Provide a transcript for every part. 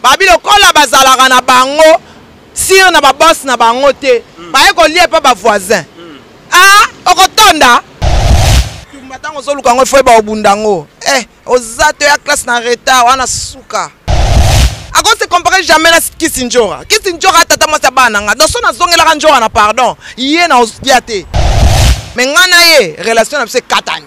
babi lokola bazalaka na bango sire na babose na bango te mm. baye kolia epa bavoisin mm. a ah, okotonda tumba ntango ozoluka yango efo yeba obunda yango eh oza to ya classe na retard wana suka ako se compare jamais na kisi njora kisi njora atata mwasi ya bana na nga doso nazongelaka njora na pardon ye na oya te me ngai na ye relation na biso ekatani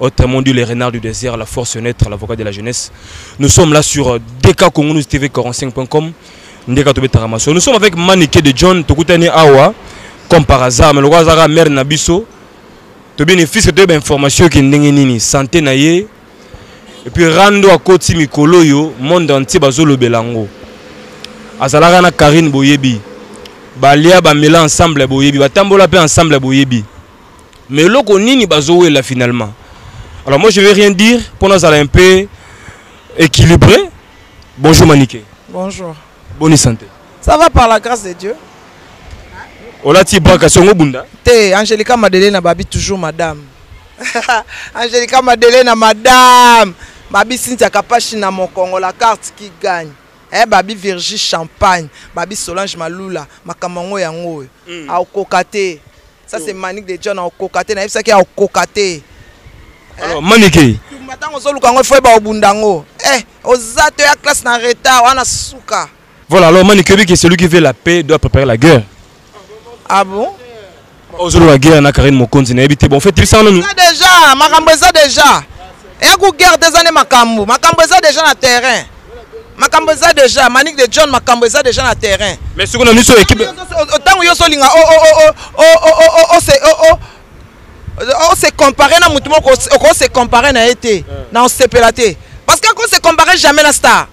Autrement dit, les renards du désert, la force neutre, l'avocat de la jeunesse. Nous sommes là sur euh, dkcongonustv45.com. Nous sommes avec Manike de John, Tokutani Awa, comme par hasard, mais le Wazara, mère Nabiso. Tu bien fils de ben information qui n'est santé naïe. Et puis rando à côté mikolo yo, monde entier bazolo belango. Azalara na Karine Boyebi. Balia ba mela ensemble Boyebi, ba tambola pe ensemble Boyebi. mais eloko nini bazowela finalement alors moi je vais rien dire mpo nazala un peu équilibré bonjour manike bonjour boni santé ça va par la grâce de dieu olati baka songo obunda te angelica madelena babi toujours madame angelica madelena madame babi cynthia kapashi na mokongo la carte qui gagne eh, babi virgie champagne babi solange malula makambo yango yango oyo mm. aokoka te Ça c'est Manick de John akoka te nayebisaki akoka te. Alors Manike. Tumba tango ozoluka yango ifo yeba obunda yango. Eh oza to ya classe na retard wana suka. Voilà alors Manike oyebi que celui qui veut la paix doit préparer la guerre. Ah bon? Ozoloba guerre na Karine Mokonzi nayebi te bon fait tibisa wana. Eza déjà makambo eza déjà. eya ku guerre te eza nde makambo makambo eza deja na terrain makambo eza deja manik de john makambo eza deja na terrain mais siko na miso ekipe ntango yo osolinga ose compare na motu moko okose compare na ye te na osepela te parce que akose compare jamais na star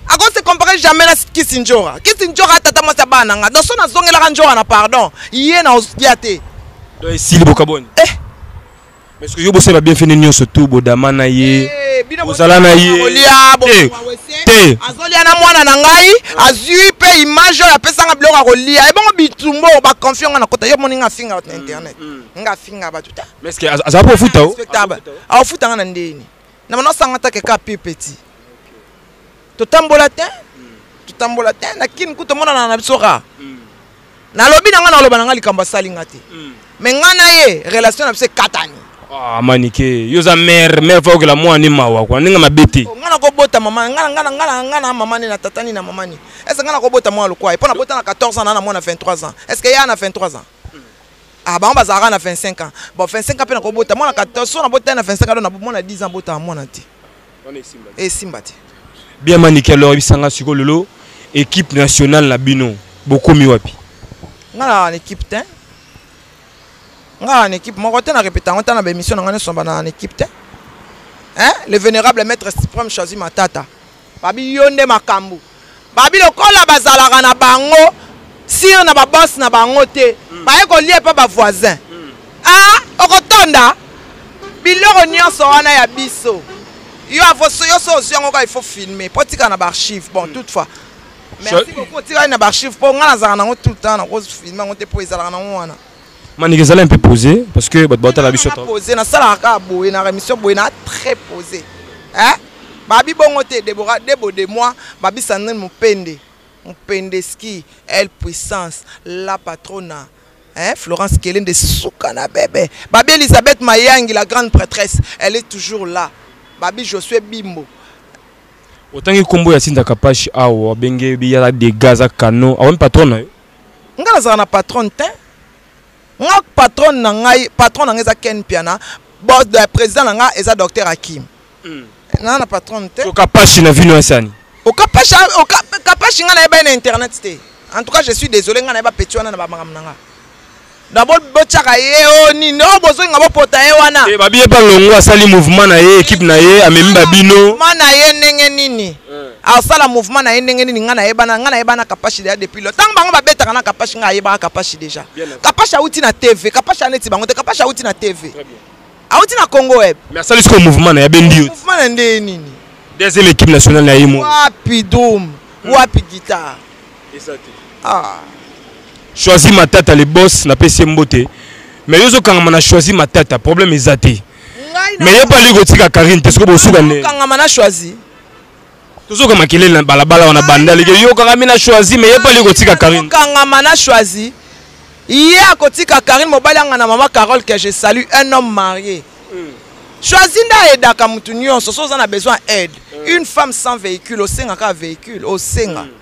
akose compare jamais na kisi njora kisi njora tata mwasi ya bana na nga noso nazongelaka njora na pardon ye na osya te esili bokaboni eh. Mais yo bosala ba bienfait nyonso tout bodama na ye eh, bozala na ye te azolia na mwana na ngai azwi mpe image oyo apesanga biloko ya kolia ebongo bitumbo baconfi nga na kota yo moni nga afinga bato na mm, internet mm. nga afinga bato te aza mpo ofuta o aofuta nga na ndeni na bana osanga take ka pi petit totambola te mm. totambola te na kini kutu omonana na biso ka nalobi na nga naloba na nga likambo asali nga te mm. me nga na ye relation na biso ekatani Ah, manike yo oza mare mare fa okela mwana ni mawa kua ndenge mabe te oh, ngai nakobota mama ngai ngai ngai ngai na mama ni na tata ni na mama ni estce ngai nakobota mwana lokwa ye mpo nabota na 14 ans naa na mwana 23 ans estce ke ya na 23 ans ah bango bazalaka na 25 ans bon 25 ans mpe nakobota mwana 14 so nabota ye na 25 ans do na mwana 10 ans botaka mwana te esimba te bien manike alors ebisanga siko lelo équipe nationale na bino bokomi wapi nga na na équipe te nga na équipe moko te na répéta yango ta na baémission na nga nyonso bana na équipe te hein le vénérable maître suprême choisi matata babi yo nde makambo Babi lokola bazalaka na bango sur na ba boss na bango te mm. baye kolia epa ba voisin mm. ah okotonda biloko nyonso wana ya biso yo avoso yo so ozwi yango kaka il faut filmer mpo tika na baarchive bon mm. toutefois merci beaucoup otikali na baarchive mpo ngai nazalaka nango tout le temps nakozfilme yango te mpo ezalaka nango wana manike ezala un peu posé parce que bato batala biso posé nasalaka kaka boye na remission boye na très posé eh? babi bongo te debora debo de moi babi sandrine mopende mopendeski el puissance la patrona Hein, Florence Kellen de Soukana bébé. Babi Elisabeth Mayangi, la grande prêtresse, elle est toujours là. Babi Josué Bimbo. Autant que combo ya Sinda Kapash, awa, benge, biyala, des gaz à canon, awa, patron, nga nazala na patronne te nga patronne na ngai patron na ngai eza ken piana bos de président na nga eza docteur akim mm. naa na patronne te okapashi na vino asani okapashi okapashi nga nayebani na internet te en tout cas je suis désolé nga nayeba petit wana na bamakambo na nga na bo bochaka ye o oh, nini o oh, bozonga bopota ye wana e eh, babi ye mpe alongo asali mouvement na ye ekipe na ye amemi babino mouvement na ye ndenge nini eh. asala mouvement na ye ndenge nini ngai nayebana ngai nayebana kapashi deya depuis lo ntango bango babetaka na kapashi ngai ayebaka kapashi deja kapashi awuti na tv kapashi aneti bango te kapashi awuti na tv awuti na congo web mais asali sikoyo mouvement na ye abendi yo mouvement na ndenge nini deuxième équipe nationale na ye mo wapi dome wapi guitare ah. choisi matata le boss napesi ye mbote mais yo ozokangama na choisi matata problème eza te mais ye mpe alingi kotika karine te soki bosuka nde kangama na choisi tozoka makelele na balabala wana banda leke yo kangami na choisi mais ye mpe alingi kotika karine kangama na choisi ye akotika karine mobali anga na mama carole que je salue un homme marié hmm. choisi nde ayedaka motu nyonso so oza na besoin aide hmm. une femme sans véhicule osengaka véhicule osenga hmm.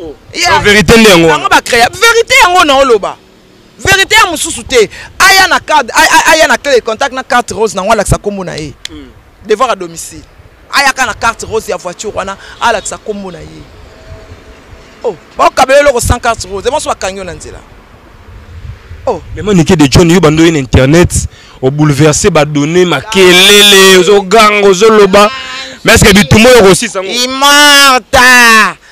oh. yeah. verité nde yango yango ba créa verité yango na oloba verité ya mosusu te aya na carte aya na clé de contact na carte rose nango alakisa nkombo na ye hmm. devoir à domicile ayaka na carte rose ya voiture wana alakisa nkombo na ye oh bakokabela eloko sans carte rose ebanso bakangi yo na nzela oh mema nike de john yo bando ye na internet obouleverse badonne makelele ozoganga ozoloba mais est ce que bitumba oyo okosisa yango imarta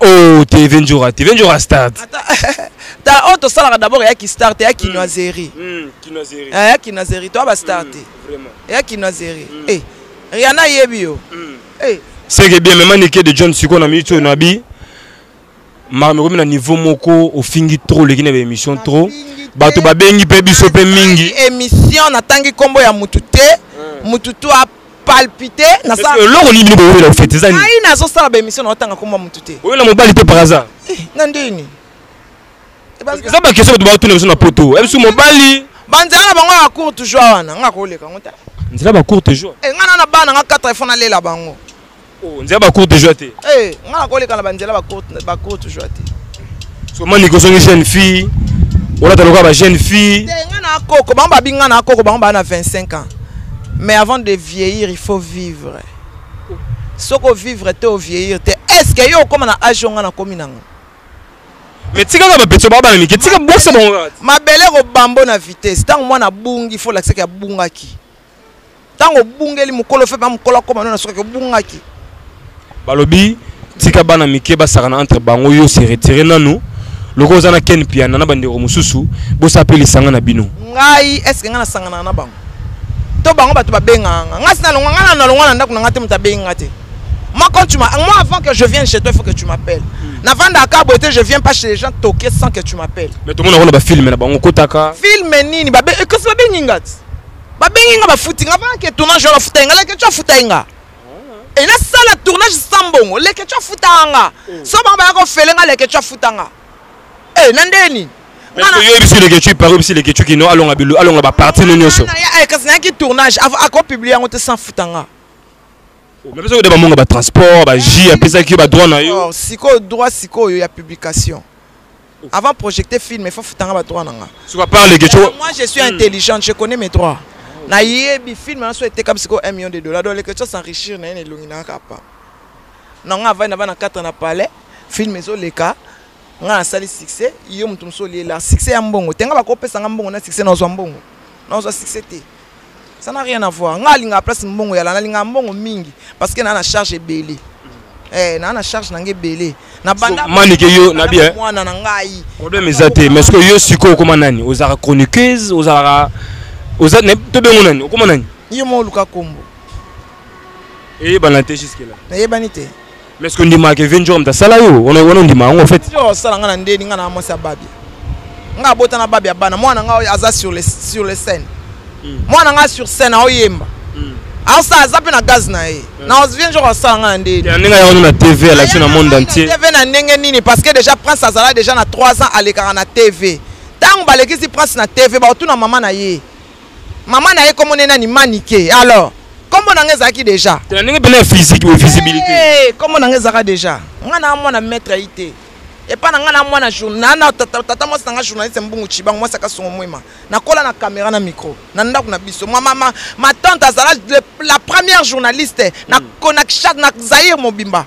Oh, TV Njora, TV Njora start. Ta on to sala d'abord ya ki start ya kinoiserie. Hmm, hmm kinoiserie. Ah, ya kinoiserie, toi ba start. Hmm, vraiment. Ya kinoiserie. Hmm. Eh, Rihanna yebi yo. Hmm. Eh. C'est que bien même Nike de John Siko na minute na bi. Ma me na niveau moko ofingi trop le kine émission trop. Bato babengi pe biso pe mingi. Émission na tangi kombo ya mutu te. Hmm. Mutu to palpite eloko nini bino boyela ofete ezani ngai nazosala baémission naotanga komba motu te oyela mobali te par hasard eh, na ndeni eza bakestion bato baotuna biso na poto ebisu mobali banzela na bango ya cour toujours wana nga koleka ngo te nzela ba courte jour enga eh, na na bana nga 4 ifo nalela bango Oh, nzela ba courte joie te. Eh, nga na koleka na ba nzela ba courte ba courte joie te. So mani ko songi jeune fille. Ola ta loka ba jeune fille. Te nga na koko, bango ba binga na koko, bango ba na 25 ans. Mais avant de vieillir, il faut vivre. Soko vivre te au vieillir te. Est-ce que yo okoma na âge nga na komi nango? Mais tika ka ba petso ba ba mike, tika bosa bango. Mabele ko bambo na vitesse. Tango mwana bungi, faut lakisa ke abungaki. ntango obungeli mokolo fepe ya mokolo akoma no na soki obungaki balobi tika bana mike basakana entre bango yo se retire nanu loko oza na ken piana na bandeko mosusu bosala mpe lisanga na bino ngai eske ngai nasanganaka na bango to bango bato babengaka nga ngai sinalongwa ngai nalongwa na ndako na ngai te moto abengi nga te Moi, quand tu m'as. Moi, avant que je vienne chez toi, il faut que tu m'appelles. Hmm. Avant Dakar, beauté, je viens pas chez les gens toquer sans que tu m'appelles. Mais tout le monde a un film, là-bas, on Film, nini, babé, et que ça babé, ningat. babengi nga bafuti nga bana ke tournage wana afutai nga leketshou afutai nga ah. e nasala tournage sans mbongo leketshou afutaka nga eh. so bango baya kofele nga leketshou afuta nga e na ndenge nini oyebisi leketshou ipare oyebisi leketshou kino alonga bilu alonga baparti no nyonso eh, kasi nayaki tournage akopublie yango te sans futa nga oh, mais biso koyeba bamonga batransport bajus apesaki yo badroit na yo oh, sikoyo droit sikoyo ya publication Avant projecter film, il faut futanga ba droit nanga. Suka par les gecho. Moi je suis hmm. intelligente, je connais mes droits. Na yebi film na so était comme siko 1 million de dollars. Donc les questions s'enrichir na ne longi na kapa. Na nga va na ba na 4 na palais, film ezo leka. Nga na sali succès, yo mutu mso liela. Succès ya mbongo. Tenga ba ko pesa nga mbongo na succès na zo mbongo. Na zo succès te. Ça n'a rien à voir. Nga linga place mbongo ya lana linga mbongo mingi parce que na na charge ebele. Eh na na charge na nge ebele. Na banda so, manike yo na bien. Mwana na ngai. Problème eza te mais ce que yo siko koma nani? Ozara chroniqueuse, ozara oza ne to bengo nani? Okoma nani? Yo mo luka kombo. Eyebana te jusque là. Eyebani te. mais ce que ndima ke venjor mta sala yo wana wana ndima yango en fait yo sala ngana ndeni ngana mwasi ababi nga bota na babi abana mwana nga aza sur le sur le scène hmm. mwana nga sur scène aoyemba hmm. asala aza mpe na gaz na ye hmm. na vien jour asala nga na ndeni ndenge aya wana na tv alakisi na monde entier tv na ndenge nini parce que déjà prince azala déjà na 3 ans alekaka na tv ntango balekisi prince na tv baotuna mama na ye Maman na ye kombo ne nani Manike. Alors, kombo na nga ezalaki déjà. Tena ndenge pena ya physique ou visibilité. Eh, kombo na nga ezalaka déjà. Nga na mwana maître yi te. Epa na nga na mwana journal na tata tata mwasi na nga journaliste mbungu chibango mwasi akasongo mwema. Nakola na kamera na micro. Na ndako na biso. Ma mama ma tante azala la première journaliste na Konakshad na Zaire mobimba.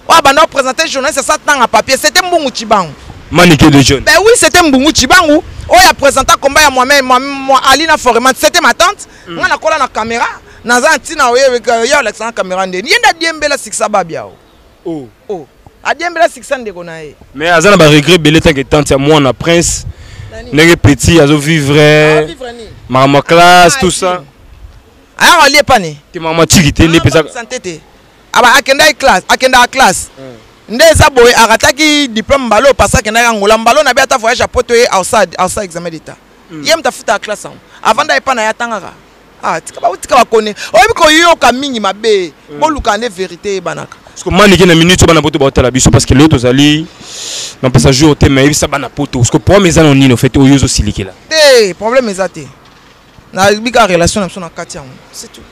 oyo abanda kopresente journaliste asa tanga papier sete mbungu cibangu manike de jeune ben oui sete mbungu cibangu oyo apresenta komba ya mwame ali na foreman sete ma tante mm. nga nakola na kamera naza na ntina oye olakisa na kamera ndeni ye nde adiembela sikisa babiao oh. oh. adiembela sikisa ndeko na ye mais aza na baregret ebele tanke tante ya mwana prince ndenge petit azovivre makambo ya classe tout ça ayaka olie pani te makambo atiki te nde mpeza aba akendaki classe akendaka classe mm. nde eza boye arataki diplôme mbala oyo pasi akendaki angola mbala oyo na be ata voyage ya poto ye ausad ausa examen d'état mm. ye moto afutaka classe yango avant da epa na ye atangaka ah, tika batika bakone oyebi koyoka mingi mabe mm. bolukaka nde verité eyebanaka parceke manike na minute bana poto baotala biso parce que lelo tozali na pesa jour te ma yebisa bana poto parceke problème eza na nini ofete oyo ozosilikela te problème eza te Na bika relation na biso na kati yango. C'est tout.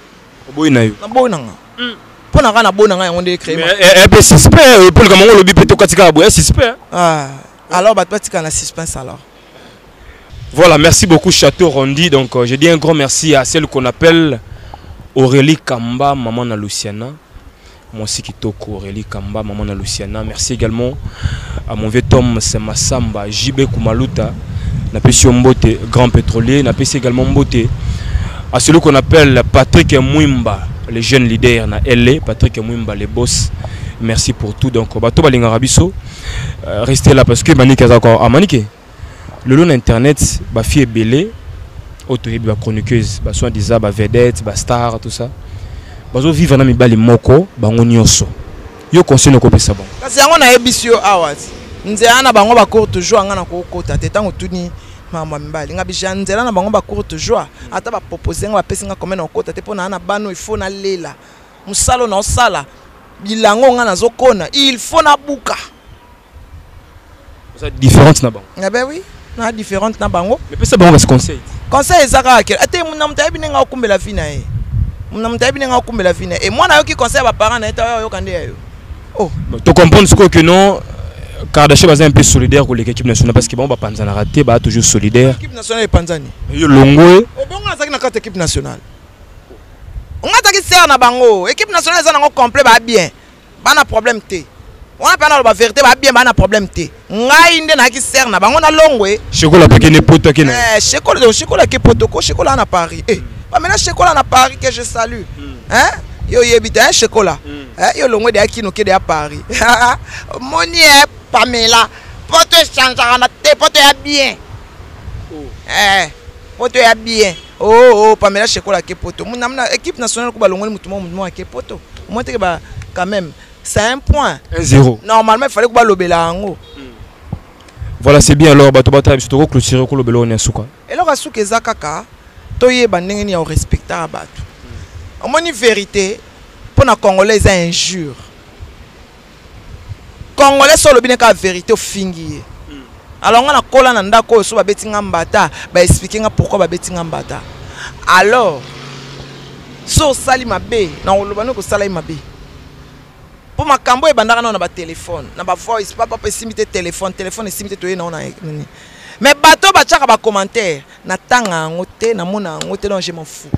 Oboyi na yo. Na boyi na nga. Mm. Mpo na nga na boyi na nga yango nde créer. Mais eh, eh, eh suspect oyo polika mango lobi pe to kati kaka boya suspect. Ah. Alors bato batika na suspense alors. Voilà, merci beaucoup Château Rondi. Donc euh, je dis un grand merci à celle qu'on appelle Aurélie Kamba, maman na Luciana. Mwasi kitoko Aurelie Kamba, maman na Luciana. Merci également à mon vieux Tom Massamba, JB Kumaluta, na pesi mbote grand pétrolier, na pesi également mbote à celui qu'on appelle Patrick Mwimba, le jeune leader na LA, Patrick Mwimba le boss. Merci pour tout. Donc bato balingaka biso. Euh, restez là parce que Manike aza encore à ah, Manike. lelo na internet ba fille ebele oyo toyebi ba chroniqueuse ba soin disant ba vedette ba star tout ça bazo vivre na mibali moko bango nyonso yo conseil okopesa bango kasi yango nayebisi yo awa nzela na bango bacourte joie ngai nakokota te ntango tuni makambo ya mibali ngai bija nzela na bango bacourte joie ata bapropose ngai bapesi ngai kome nakokota te mpo naa na bana oyo ifo nalela mosala oyo naosala bilango ngai nazokona il faut nabuka oza différente na bango ah ben oui na différente na bango mais pesa bango basi conseil conseil eza kaka ke ate muna moto ayebi ndenge akumbela vi na ye muna moto ayebi ndenge akumbela vi na ye e mwana ayoki conseil ya baparent na ye ta oyoka nde ya yo oh tocomprendre sikoyo ke non Kardashian baza un peu solidaire koleka équipe nationale parce que bango bapanzanaka te baa toujours solidaire équipe nationale epanzani yo longo ye obongo azalaki na kati équipe nationale ongataki sere na bango équipe nationale eza nango complet baa bien bana problème te wana mpe analoba verité ba bien bana problème te ngai nde nayaki sere na bango na longwe shekola mpe kende poto ake na eh, shekola donc shekola ake poto ko shekola na paris eh, bamela shekola na paris que je salue mm. hein? yo oyebi te hein, shekola mm. eh, yo longwe deya kino kede ya paris moni e eh, pamela poto echangeaka na te poto ya bien oh. eh, poto ya bien Oh oh Pamela Shekola ake poto. Muna muna équipe nationale ko balongoli mutu moko mutu moko ake poto. Au moins teke ba quand même c'est un point. 1-0. Normalement il fallait ko balobela yango. Hmm. Voilà c'est bien alors bato batala biso toko clôturer ko lobela on suka. Eloko suka eza kaka toyeba ndenge ni ya respecter bato. Hmm. Omoni verite mpo na congolais eza injure. congolais so olobi ne kaka verité ofingi ye alors nga nakola na ndako oyo so babeti nga mbata baexplike nga pourkui babeti nga mbata alors so osali mabe na koloba nde kosala ye mabe mpo makambo oyo ebandaka nao na batelefone na bavoice papa mpe esimbi te telefone telefone esimbi te toye nao na nini mais bato batyaka bacommentaire natanga yango te namona yango te donc je m'en fou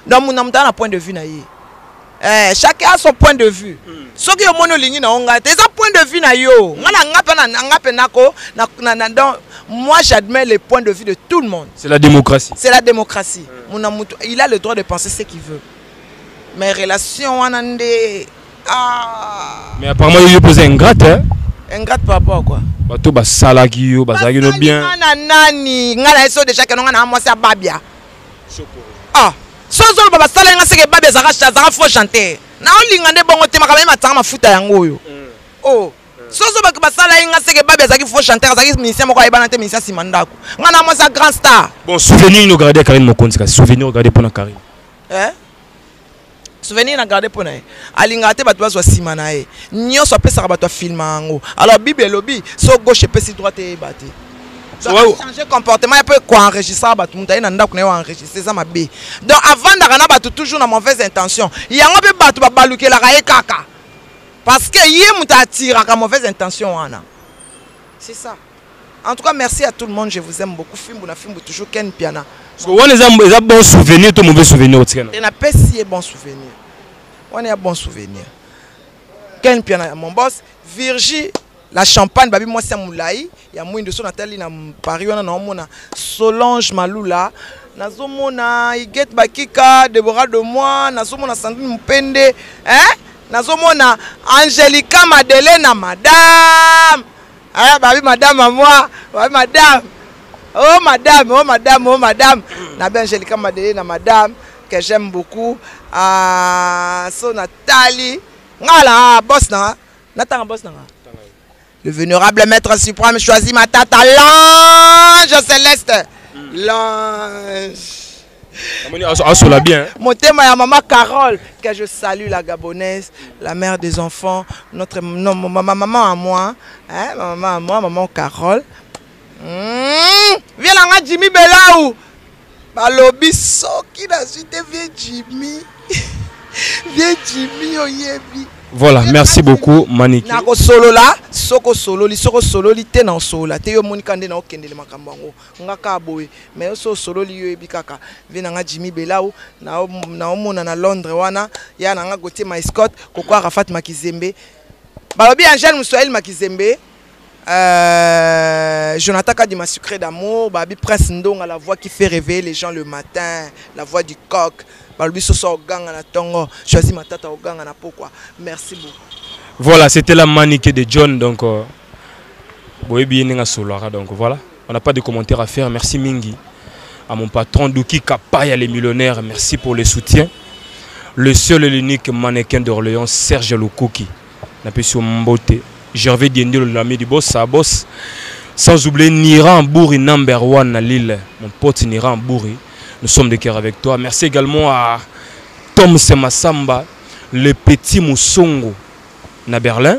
donc muna moto aa na point de vue na ye Eh, chacun a son point de vue mm. soki yo moni olingi na yo ngai te eza point de vue na yo ngai na ngai mpe na ngai mpe nako na, na, na, donc moi j'admets les points de vue de tout le monde c'est la démocratie c'est la démocratie mm. mona mutu il a le droit de penser ce qu'il veut mais relation wana nde ah. mais apparemment yo mpe oza ingrate hein? ingrate par rapport à quoi bato basalaki yo bazalaki no bien ngai na nani ngai na yeso déjà keno ngai na mwasi ya babia ah so zoloba basala nga seke babi azaka azaka faux chanteur naolinga nde bongo te makambo ye matanga mafuta yango oyo mm. o oh. mm. soso baki basala ye nga seke babi azalaki faux chanteur azalaki musicien moko ayebana te musicien nsima ndako nga na mwasi ya grand star bon souvenir nini ogarde ya karine mokonzi kasi souvenir ogarde mpo na karine eh? souvenir na garde mpo na ye alingaka te bato bazwa nsima na ye nyonso apesaka bato afilma yango alors bible elobi so gauche epesi droite eyeba te changer comportement ya mpe koenregistraka bato moto aye na ndako na ye oenregistre eza mabe donc avandaka na bato toujours na mauvaise intention yango mpe bato babalukelaka ye kaka parce que ye moto atiraka mauvaise intention wana c'est ça En tout cas merci à tout le monde je vous aime beaucoup fimbu na fimbu toujours Ken Mpiana. Parce que wana eza eza bon souvenir to mauvais souvenir otika na. Et na pesi ye bon souvenir. Wana ya bon souvenir. Ken Mpiana ya mon boss Virgie la champagne babi mwasi ya molai ya mwindo so natali na paris wana naomona solange malula nazomona igete bakika debora de moi nazomona sandrine mopende eh? nazomona angelica madelena madame Ah, babi madame à moi, babi madame. Oh madame, oh madame, oh madame. Na bien Angelica Madele na madame que j'aime beaucoup. Ah, so Nathalie. Ngala boss na. Natanga boss na. Le vénérable maître suprême choisit ma tata l'ange céleste. L'ange. asola bien motema ya mama carole que je salue la gabonaise la mère des enfants notre non, ma, ma maman à moi hein, ma maman à moi maman carole mmh, vie na nga jimmy belau balobi soki nazwi te vie jimmy vie jimmy oyebi voilà merci beaucoup maniki nakosolola soki osololi soki osololi te na osolola te yo omonika nde na okendele makambo yango Nga kaka boye mais yo so osololi yo yebi kaka vie na nga Jimmy Belau na omona na Londres wana ya na nga Gauthier Maiscott koko Arafat Makizembe balobi Angèle Muswahili Makizembe euh, Jonathan Kadima Sucré d'amour babi Prince Ndonga la voix qui fait réveiller les gens le matin la voix du coq balobi soso oganga na tongo choisi matata oganga na pokwa merci beaucoup voilà c'était la manike de John donc euh... boyebi ye ndenge asololaka donc voilà on n'a pas de commentaire à faire merci mingi à mon patron Duki Kapaya les millionnaires merci pour le soutien le seul et l'unique mannequin d'Orléans Serge Lukuki napesi yo mbote Gervais Diendelo l'ami du boss sa boss sans oublier Nira Bouri number one na Lille mon pote Nira Bouri nous sommes de cœur avec toi merci également à Tom Semasamba le petit Musongo na Berlin